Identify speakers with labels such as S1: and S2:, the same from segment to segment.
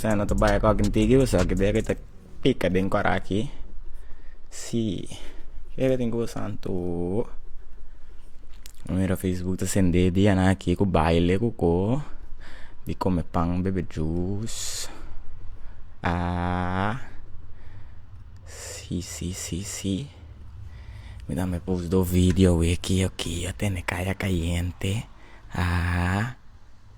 S1: Sa no ta baya cu aki tigi usa aki debe ta pica den cor aki si keda tin cu usa anto no mira facebook ta sende dia nan aki cu baile cu co y come pan bebe jus aah si si si si me dame post dos video away aki oki a tene caya cayente aah.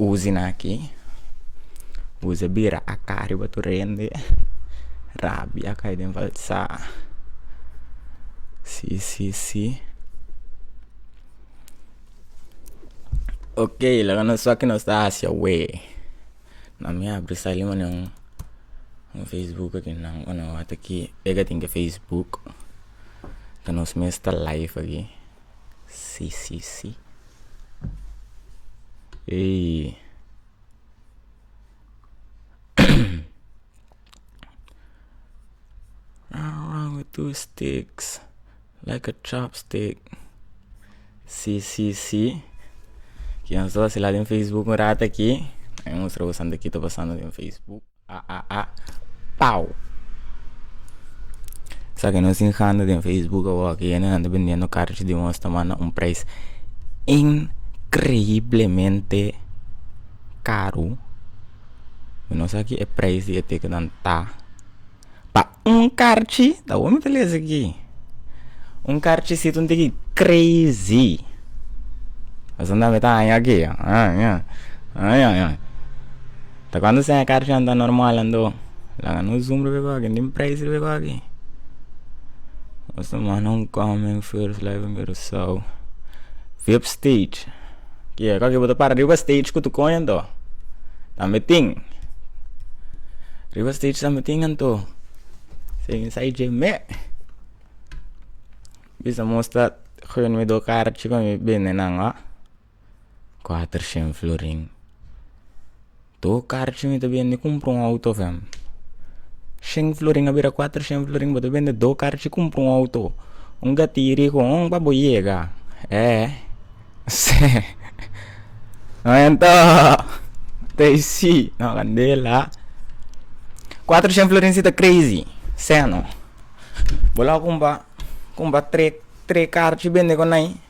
S1: Uzina aki, uzi a bira aká riba tur hende, rabia kai den balsa, si si si, ok laga nos sa ke nos ta hasi awe, na mi abri sa lima na un facebook aki nan wan a wata ki e katinke facebook ta nos mes ta live aki. Si si si ey two sticks like a chop stick si si si kian so a sila den facebook un rato aki a mi mustra boso anto kiko ta pasando den facebook. Aaa Pau sa ke nos tin handa den facebook awor ke yende nan ta bendiendo carchi di un hosta manda un prijs increiblemente caro mi no sa ki e prijs di e teken nan ta pa Un karchi ta ome ta lesa aki un karchi si tun tiki crazy asan ta me ta haña aki ta cuando sea karchi anda normal ando laga no zoom riba eko aki nin prijs riba eko aki esta man a un comment first live in curacao vip stage. Kia kua bo ta para riba stage ku tu koño anto tambe tin riba stage tambe tin anto sei insai dje me bisa mustra gun mi do karchi pa mi bende nan ho kuater shen florin. to karchi mi ta bende kumpra un outo fem shen florin a bira kuater shen florin bo ta bende do karchi kumpra un outo un gatiri ku un pa bo yega ee tei si no kandela kuater shen florin si ta crazy seno bo lo a kumpa kumpa tre tre karchi bende konai.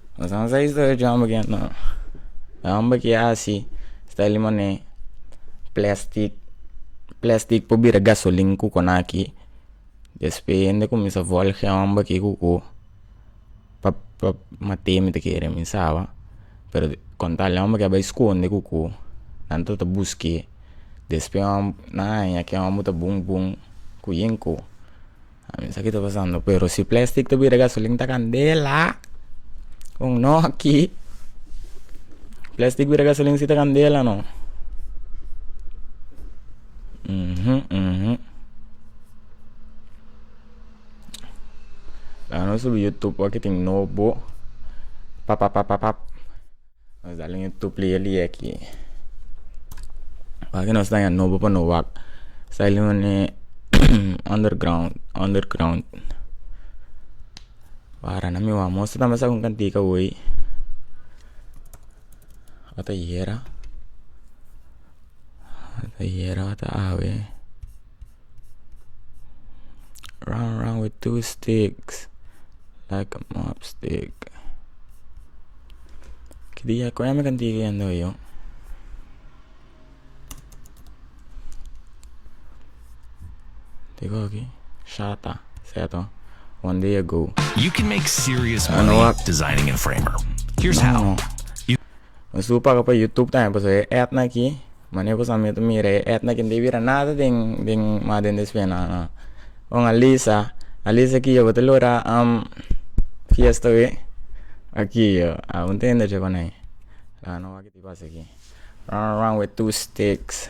S1: Nos a sa historia cu e homber aki no e homber aki a haci esta lima ne plastic plastic por bira gasolina cu conaki despues hende cuminsa volge e homber aki cu cu pa pa matemo ta kere mi saba pero con tal e homber aki a bai sconde cu cu nan ta ta busque despues nan a haña cu e homber ta bun bun cu yen cu a misa ki ta pasando pero si plastic ta bira gasolina ta candela con no aki plastic bira gasolina si ta candela no la nos subi youtube aki tin nobo papapapap. Nos dal un tuplier di yeki pasobra nos ta nobo pa no wak sai lo un under ground under ground wara nan mi wan mostra tambe sa un kantica woy ata yera ata yera ata awe. Round round with two sticks like a mop stick ki dia ku emi kan tigri yendo ayo tigua ki shata seto
S2: one day ago mi su
S1: paga pa youtube tambe pasobra e etnan aki. Mane ku Samir ta mira e Edna kende bira nada den den ma den des pena ha kon Alisa Alisa ki yo bo ta lora am fiesta we aki yo a un tendertje kon nai la no wak di pasa aki ran ran with two sticks.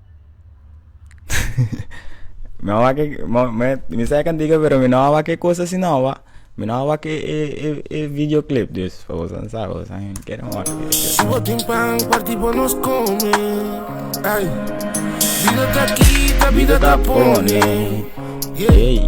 S1: mi a wak mi sa ekan diga pero mi no a wak e kos asi no ba mi no a wak e e e e video clip dus pa boso sa boso a kere wak
S3: bida ta pone ey.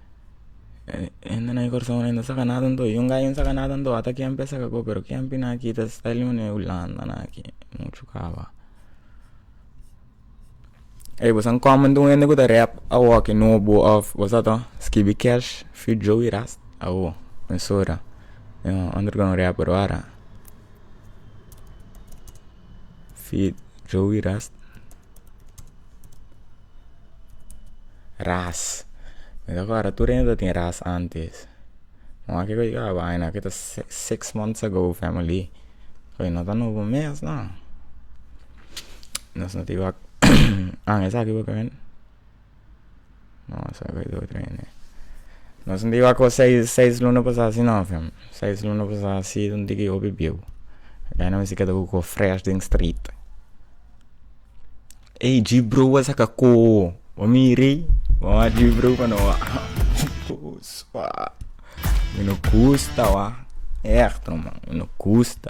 S1: hende na e corsou no saka nada anto i un gayo no saka nada anto ata kempi a saka ago pero kempi na ki ta sta lima na e hulanda na ki muchu caba ey boso a comento un hende cu ta rep awor ki no bo of bo sa to skibi cash fi joey ras awo mi sora ander cu no rep pero wara. Joey ras ras mi ta kor tur hende ta tin ras antes moa kico ci caba aña na kico ta six months ago family oye no ta nobo mes na nos no tin wak aña esaki bo. nos no tabata cu seis seis luna pasa asi no seis luna pasa asi un di ki hopi biu keda no misti keda ku ko fresh den street ei ji bru a saka koo bo miri bo a ji bru kano a pus pa mi no gusta wa echte man mi no gusta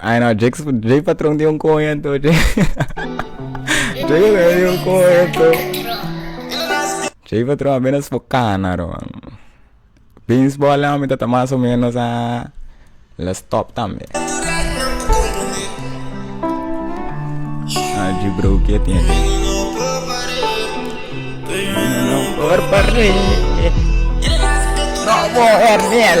S1: Ay no, Jake, Jake patrón tiene un cuento, Jake. Jake patrón tiene un cuento. Jake patrón apenas por cana, man. Pins bola, mi tata más o menos a la stop también. Allí, bro, ¿qué tiene? No, por miel.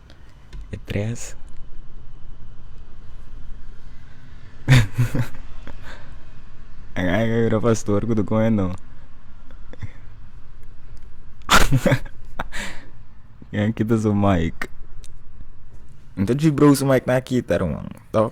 S3: e
S1: tres pastor ku ta kome no ken a kita su mic nta djibro su mic na kita ruman tog.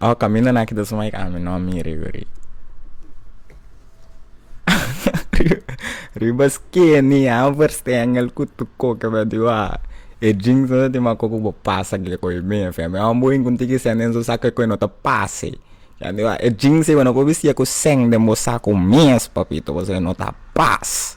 S1: Oh caminda naki ta suma ik ami no mira i guri riba skeni amo por stengel ku tu koke me di wak e jeans no ta tin ma koku bo pasa kila koe mi e femi amo bo yunku tiki sende den su sak koe no ta pase ya mi wak e jeans sibo no por bishia ku sende den bo saku mes papito pasobra no ta pas.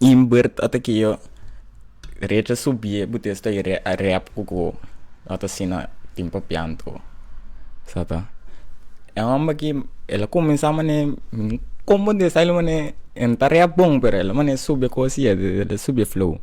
S1: in beurt ata ke yo recha subie bu testa i re a rep ku ko a ta asina tin pa pianto sa ta e hòmber aki el a kuminsá mane komo ta esai lo mane e ta rep bon pero el a mane sube ko siete el a sube flow.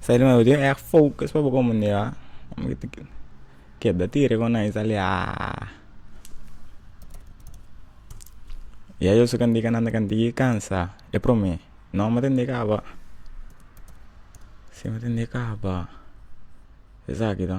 S1: Sabi bo tin e'g focus pa bo comunidad keda tira con nan isali haa y ayo si nan tika nan diki cansa e prome no me tindi caba si me tindi caba esaki to.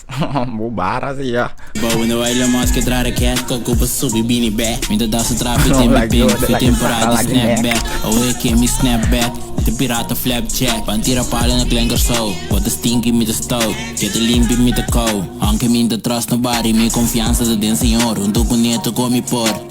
S1: Bo bara si ya. Bou no baila mas
S4: ke tra raket Ko kupa subi bini bè Mi ta dasa trapi te mi ping Fe temporada di snap back Oe ke mi snap back Mi ta pirata flap jack Pan tira palo na klenker so Bo ta stinky mi ta stow Ke ta limpi mi ta kow Aunke mi no ta trust nobody Mi konfiansa ta den Señor Un tukuneto komi por.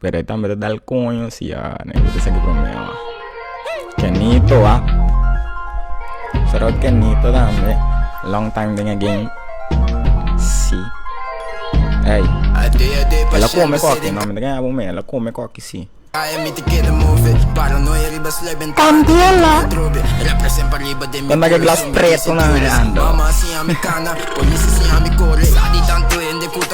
S1: pero e tambe ta dal koño si a negoso ta saki promeo kenito a shoutout kenito tambe long time den e game si ey ela come koki no mi ta gana prome ela come koki si
S5: candela konta ke glas preto
S1: nan e anda.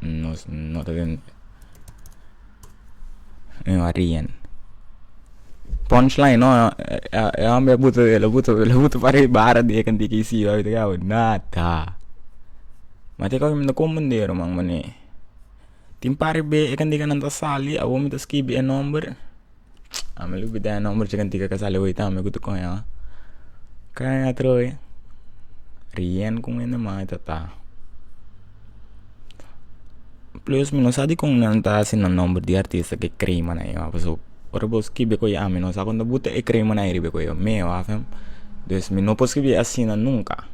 S1: nos no ta den mi maria punch line no e hombre a buta a buta a buta parei bara di e kantu ki si bay bay bay nada ma te kor mi ta konprender man mane tin par be e kantu nan ta sali awor mi ta skibi e nomber. ame lo bida e nomber chi kantika ka sali hui ta ame ku ta koño a kaya atrobe rien ku mene man e tata plus mi no sa dikon nan ta hasi na nomber di artista ke kreima na ña paso ora bo skibi koño a mi no sa konta bo ta e kreima na riba e koño meo afem pues mi no por skibie asina nunka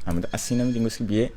S1: ame ta asina mi tin bo skibie.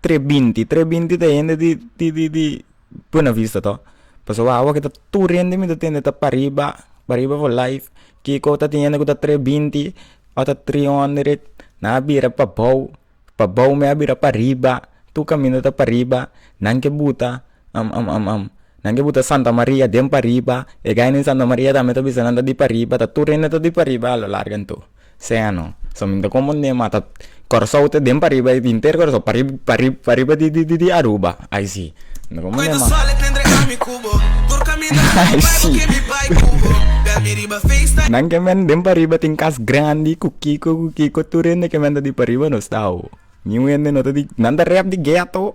S1: tres binti tres binti ta hende di di di di buena vista to pasobra wak awor kita tur hende mi ta tende ta pariba pariba for life kiko ta tin hende ku ta tres binti otro tri hondrek nan a bira pa bou pa bou mi a bira pariba tur kaminda ta pariba nan ke buta Am am am am Nan ke buta Santa Maria den pariba E gai nen Santa Maria tambe ta bisa nan ta di pariba Ta tur hende ta di pariba a lo largo en tur Sea no So mi ta konpondé ma ta Kòrsou ta den pariba e inter Kòrsou parib parib pariba di di di Aruba Ai si Mi ta konpondé ma Ai si Nan ke men den pariba tin kas grandi ku kiko ku kiko Tur hende ke men ta di pariba nos ta awo Niun hende no ta di Nan ta rèp di gèt ho.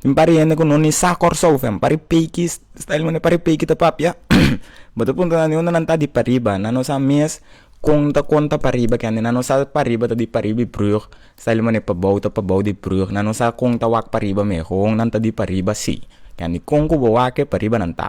S1: Tin pariente ku no ni sa kòrsou fo pari peiki style men pari peiki ta papia bo ta puntra nan di unda nan ta di pariba nan no sa mes kon ta kon ta pariba kendi nan no sa pariba ta di pariba di brug style men pabou ta pabou di brug nan no sa kon ta wak pariba me ho nan ta di pariba si kendi kon ku bo wak pariba nan ta.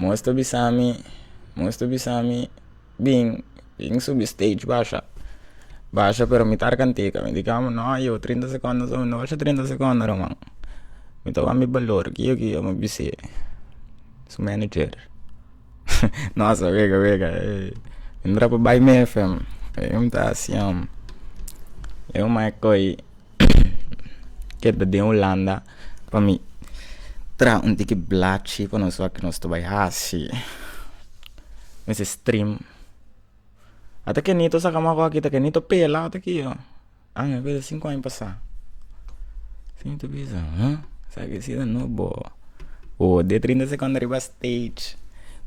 S1: Moes ta bisami, moes ta bisami Bin, bin subi stage basha, basha pero mi tar kanteka mi di kaba no ayo trinta secondo so mi no basha trinta secondo ruman mi ta wak mi balor kiyo kiyo mi bise su manager no asa wega wega mi rap bai mi fm mi ta siam yo mai koi. keda den Hulanda pa mi tra un tiki blachi pa nos wak nos ta bai hasi mester strim ata kenito saka maku aki ta kenito pela ata ki yo ami a bisa sinku aña pasa mi ta bisa ha sa ki si ta no bo o de trinta sekondo riba steg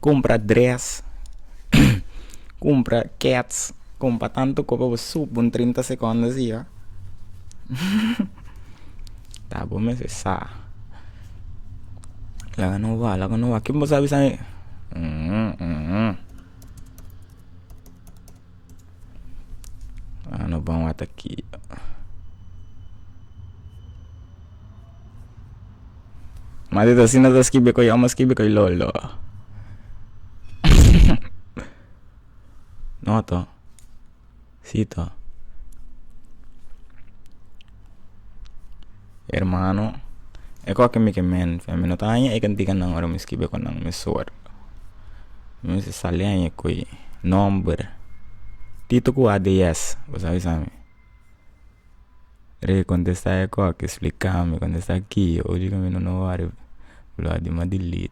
S1: kumpra dress kumpra kets. Con pa tanto cope bo sup un trinta seconda siba ta bo mester sa laga no wak laga no wak ken bo sa bisami laga no ban wata aki ma dito asina ta skibi koyo amo skibi koy lolo. No to. Si to. Hermano e kos ke mi ke menti mi no ta haña e kantika nan ora mi skibe kon nan mi sor mi mester sali haña ku e nomber tito ku ad yes bo sa bisa mi re kontesta e kos ke splikami kontesta ki oju ke mi no wòrdu lo a dima delete.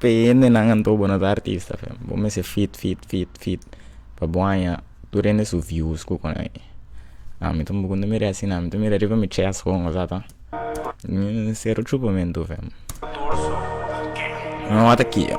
S1: Pe hendenan anto bo no ta artista fe bo mester fit fit fit fit pa bo haña tur hende su views ku konai a mi tampoco no mira asina mi ta mira riba mi chest ho ozata ta mi cero chupamentu fe no wata kijo.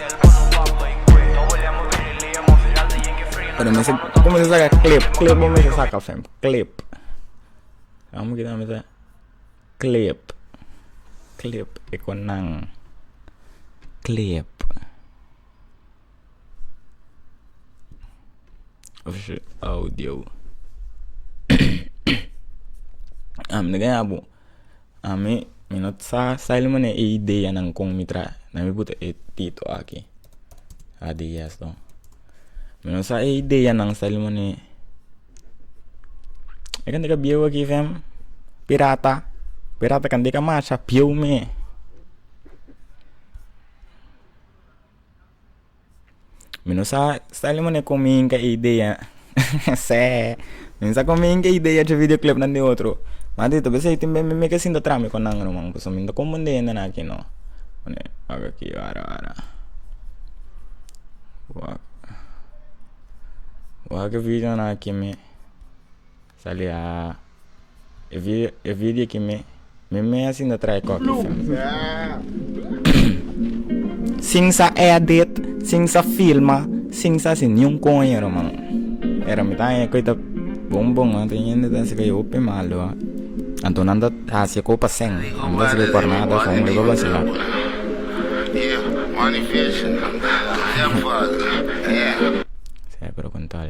S1: Pero mester como se saca clip clip bo mester saca fam clip vamos kita mester clip clip e conan clip oh shit audio ah me ganha bo Ami mi no sa sail mane e ideanan kon mi traha na mi puta e tito aki ideas to mi no sa e ideanan sail mane e kende ka bieu aki sem pirata pirata kende ka masha pieu me. mi no sa style di mane komi inka idea seh mi sa komi inka idea dje video klep nan di otro madi ta bisai tin mi meke sinta trami ku nan man pasobra mi ta koponde hende nan aki no wak aki wara wara wak wak e video nan aki mi. Sali a e video ki mi mi asin ta trae koki sin sa edit sin sa filma sin sa si niun koño ruman pero mi ta haña koita bon bon a tin yende ta haciendo koe hopi malo anto nan ta haci koe pa seng nan ta haci koe por nada so unda pa vacila
S3: se preguntal.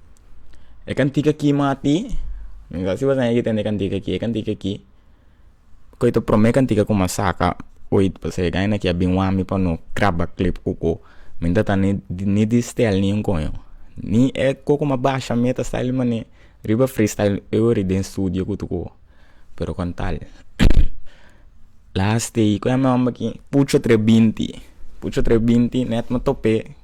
S6: E kantika ki mati mi ta sibi asina yoi tende kantika aki e kantika aki koy ta prome kantika ku mi a saka oit pasobra e gana ki a bin wan mi pa no kraba klep koko mi no ta tanda ni di style ni un koyo ni e koko mi a basha mi ta style mane riba freestyle e ora den studio ku tukuo pero kon tal last day ku mi a hamba ki pucho tre binti pucho tre binti net mi a tope.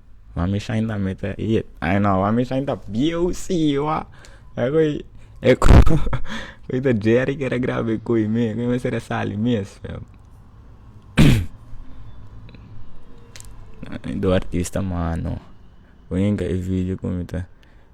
S6: Mami shine ta mete yet ai no mami shine ta bieu si wa akoy ta jerry kere graba koe me koe mester a sali mes do artista mano.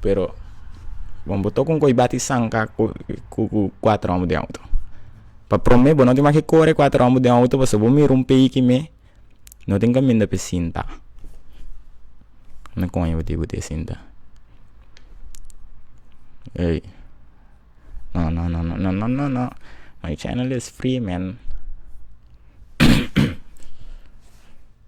S6: Pero wen bo tok un koe bati sanka ku ku kuater omber den auto pa prome bo no tin maki kore kuater omber den auto pasobra bo mira un peiki me no tin kaminda pi sinta na kone bo tin kute sinta ey no no no no no my channel is free man.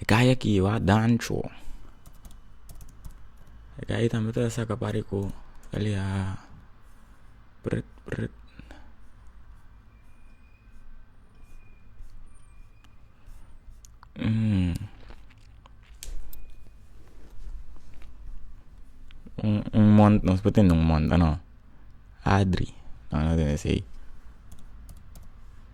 S6: E kaya aki a dancho e kaya tambe ta saka pari ku kelia pret pret nos por tene un monta no adri.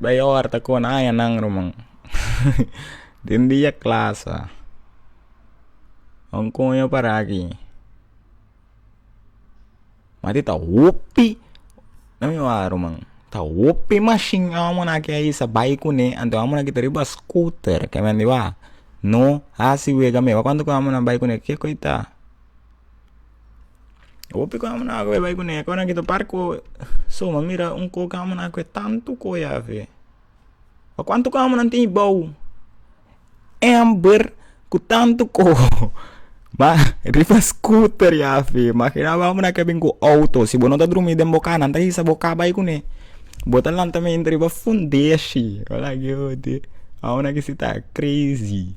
S6: bay ora ta kona añanan ruman den dia klas a wan kon yo para aki mati ta hopi na mi wawata ruman ta hopi mashin wan muna aki a isa bay kune anto wan muna kita riba skuter kemen di ba no hasi wega me wan kuantu ku wan muna bay kune ke koy ta. hopi cu amo na agua bai cune acuer nan kita barco so a mira un coke amo na cu tanto coye afe pa cuanto amo nan tin boo ember cu tanto co ma riba scooter yafe imagina bo amo na ke bin cu auto si bo no ta drumi den bo casa nan ta hisa bo ca bai cune bo ta lanta mi riba fundeshi amo na kisi ta crazy.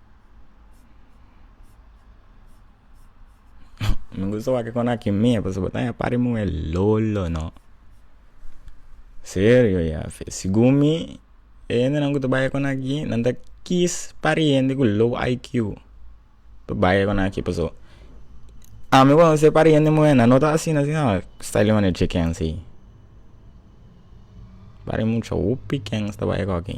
S6: mi gusta wak kon aki mia pasobra bo ta oya party muhe lolo no
S1: serio ya fe segun mi e hende ku ta baya kon aki nan ta kis party hende ku low iq pa baya kon aki paso ami wen ose party hende muhe nan no ta asina si no style di manera cheken si party mucha hopi ken ta baya kon aki.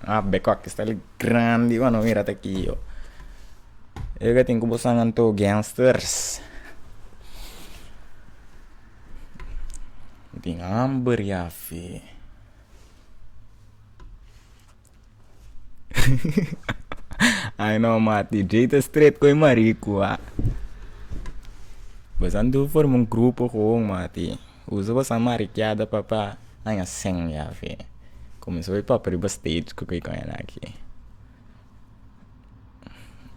S1: Ah bekua ki style grandi bo a no mira ta ki yo yo ka tin ku bo san anto gangsters mi tin hamber ya fi ai no mati dj ta straight ku e mariku ah bo san tur forma un grupo koon mati. Usa bo san marikiada pa pa haña sèn ya fe kuminsó e pòp riba stage ku kiko enaki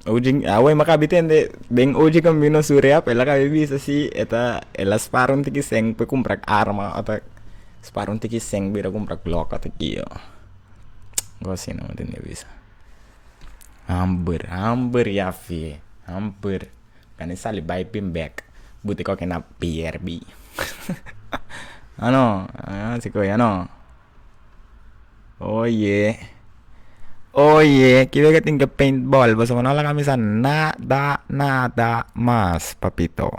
S1: oji awor mi a kabi tende den oji ku a mina su rèp el a kabi bisa si e ta el a spara un tiki sèn pa e kumpra arma ota spara un tiki sèn pa ir a kumpra glòk ota kio algu asi no mi tende bisa hambur hambur ya fe hambur. Kan e sali bai p'e bek bu te koke na pier bi a no si koe a no oye oye kiwe ke tin ke paint ball boso bo no laga misa nada nada mas papito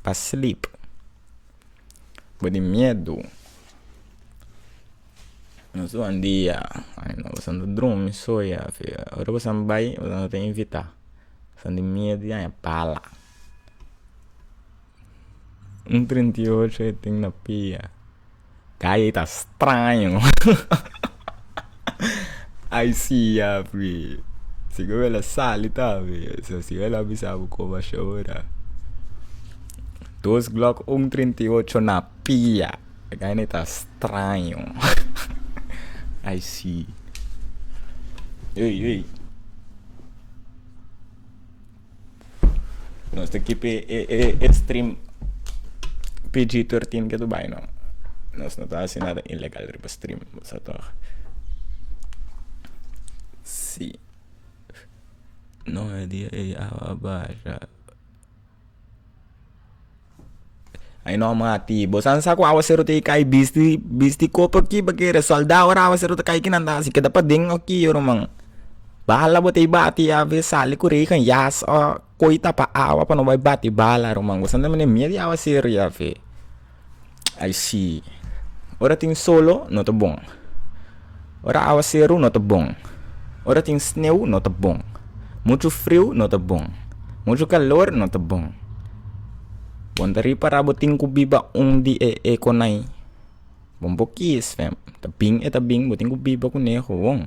S1: pa slip bo tin miedu no su andia ai no boso no drumi soia ora boso bai boso no ta invita. San di mia di aña pala un treinta y ocho e tin na pia gaya e ta straño ai si yapi si ku el a sali tambe si el a bisa bo koba a shora dos glock un treinta y ocho na pia e gaya na e ta straño ai si ei ei Nos ta kipi e, e, e stream PG-13 ke tu bai no. Nos no ta hasi nada ilegal riba stream, sa toch? Si. No e dia ei awa basha. Ay no mati bo san sa ku awa sero te kai bisti bisti kopo aki bakere solda ora awa sero ta kai kinan ta hasi keda paden oki yoro man bala bo tei bati a ve sali ku regen yas o koi tapa awa pa no bai bati bala yoro man bo san ta mene miet di awa sero ya fe. Ai si ora tin solo no ta bon ora awaseru no ta bon ora tin sneu no ta bon muchu friu no ta bon muchu kalor no ta bon bon ta ripará bo tin ku biba un di e e konai bon bo kis ta bin e ta bin bo tin ku biba kuneho won.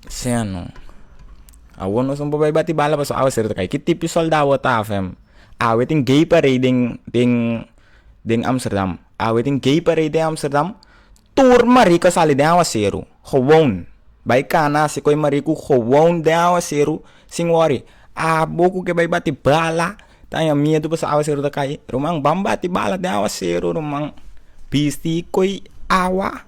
S1: Seno, awor nos no por bai bati bala pasobra awe ser ta kai. Ki tipo di soldado awor ta hafe? Awe tin gay parade den den den amsterdam. Awe tin gay parade den amsterdam, tur marica sali den awaseru, gewoon. Bai cana haci cu e marica cu gewoon den awaseru sin worry. Abo cu ke bai bati bala ta haña miedu pasobra awaseru ta kai. Ruman, ban bati bala den awaseru ruman. Bisti cu e awa.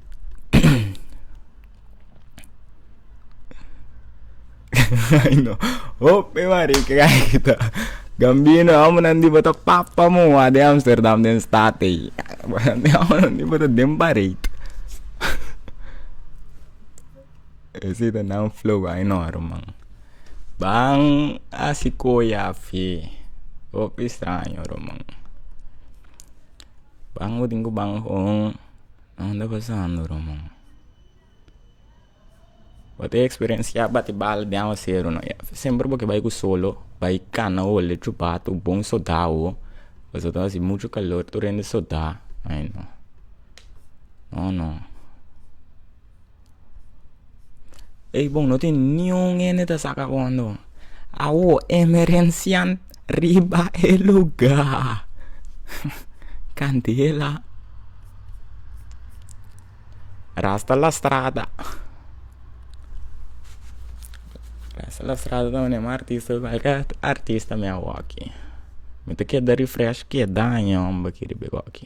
S1: Ay no. Hope marica gaita. Gambino amo nan di bota papa mo wa de Amsterdam den state ei. Amo nan di bota den bareit. Ese ta nan flow ay no aro man. Ban asi koya fe. Hopi straño aro man. Ban mo tin ku ban hon. Nan ta pasando ruman bo
S6: ta experencia bati bal den awaseru no semper boke bai ku solo bai kana holi chupat bo bon soda awo pasobra bo ta hasi mucho calor tur hende soda ai no no no Ey bon no tin niun hende ta saka hondo bo awo emerencian riba e lugar candela rasta la strada rasta la strada ta mane mi artista cualkier artista mi awoki mi ta keda refresh keda aña hombeki riba e goki.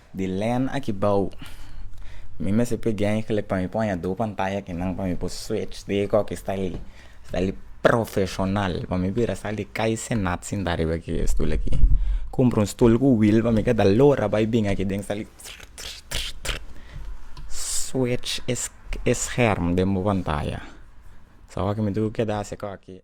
S6: Di len aki bao, mi mester pidi engle pa mi por haña dos pantaya akinan pa mi por switch di eko aki sta li, sta li profesional, pa mi bira sal di cai senat sinta riba ki stul aki, cumpra un stul cu wheel pa mi keda lora bay bin aki den sali trrr trrr trrr trrr switch e scherm den bo pantaya, so awor aki mi dor keda hasi eko aki.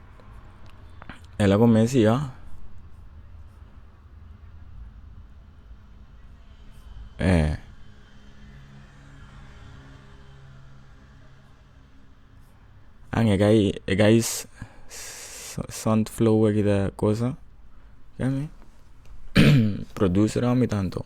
S6: el a come sia e an e kai e kai sant flower kita cosa kiami produce rami tanto.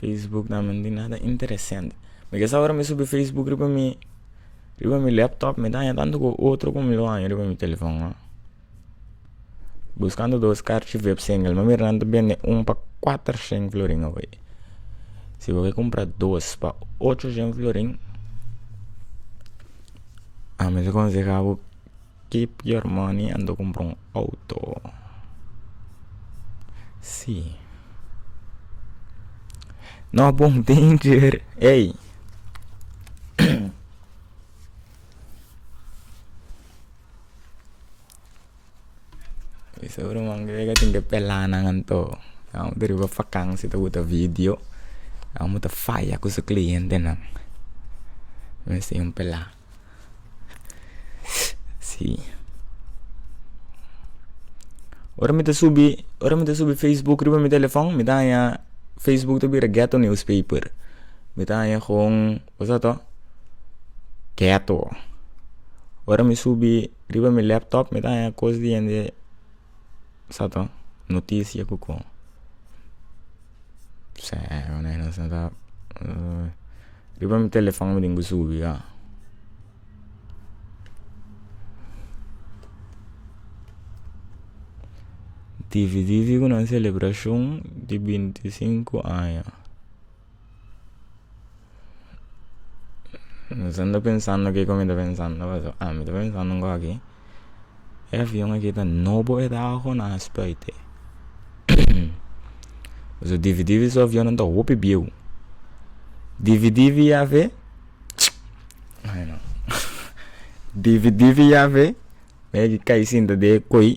S6: Facebook na men tin nada interesante mi ke sa ora mi subi facebook riba mi riba mi laptop mi ta haña tanto ku otro ku mi lo haña riba mi telefòn a buskando dos karchi web singel mi a mira nan ta bende un pa kuater shen florin awor si bo ke kumpra dos pa ocho shen florin a mi ta konsehabo. Keep your money a do kumpra un outo si no bon danger ey esou de man krei tin ke pelanan anto amo ta riba fakansi ta wuta vidio amo ta faya ku su klientenan mester yon pela. si ora mi ta subi ora mi ta subi facebook riba mi telefòn mi ta haña facebook ta bira ghetto news paper mi ta haña kon kusai ta ghetto ora mi subi riba mi laptop mi ta haña kos di yende. sa to notisia ku kon riba mi telefòn mi dinko subi a divi divi ku nan selebrashon di binti sinku aña. Esando pensando kiko mi ta pensando paso a mi ta pensando un kos aki e avion aki ta nobo a ta aho na spui te paso divi divi su avionnan ta hopi bieu divi divi yafe divi divi yafe mei kai sinta den e koi.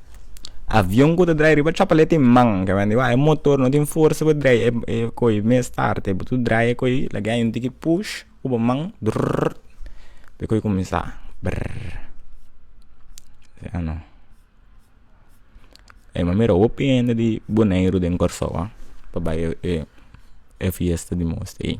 S6: avion ku ta drai riba chapa lei tin man ke mandi wak e motor no tin forsa pa drai ko'i mes start bo tur drai ko'i lagi aña un tiki push ku bo man durrr e ko'i kuminsá brrr e mami mira hopi hende di boneiru den kòrsou a pa bai e fiesta di mos ei.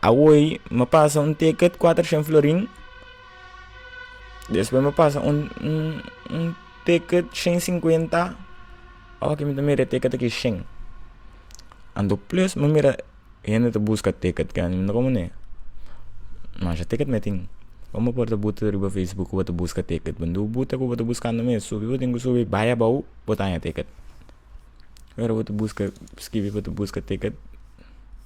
S6: awoi mi a pasa un ticket cuatrociento florin despues mi a pasa un un ticket ciento cincuenta ora ki mi ta mira e ticket taki shen anto plus mi mira hende ta busca ticket mi wenda como ne masha ticket mi tin como por ta buta riba facebook caba ta busca ticket bo no buta cubo ta buscando mes subi bo tin cu subi bay abao bo ta haña ticket ora bo ta busca scribi bo ta busca ticket.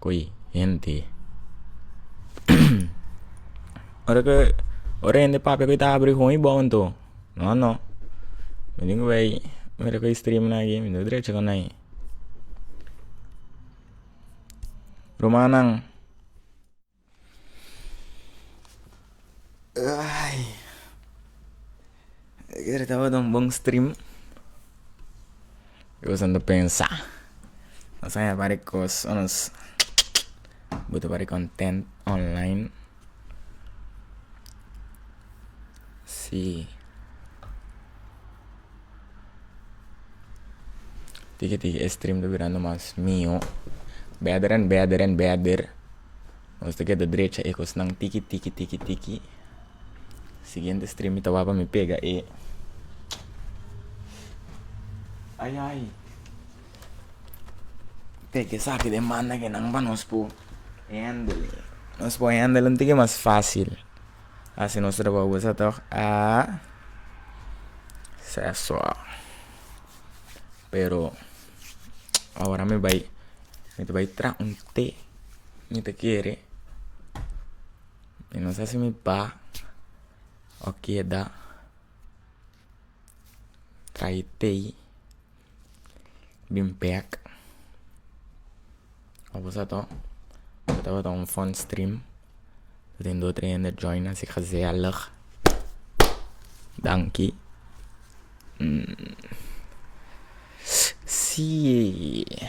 S6: ku e hende. ora ku ora e hende papia ku e ta habri gon e bou anto no no menen ku bay mira ku e stream nan aki mi no drecha ku nai rumannan. Ayer tabata un bon stream, i was anda pensa, nos a yama di kos un nos buta bari kontent online, si tiki tiki e stream ta birando mas mihó, bèder and bèder and bèder. Nos ta keda drecha e kosnan tiki tiki tiki tiki siguiente stream mi ta wak pa mi pega e ai ai pega esaki den banda ke nan pa nos por hendel nos por hendel un tiki mas facil asi nos ta trabaja bosa tog a seso. Pero awor mi bai mi ta bai traha un te mi ta kere mi no sa si mi ba o keda traha e te bin bek. Abo sa to bo tabata un fon stream bo tin dor tre hende join así ke haci sea log danki siee.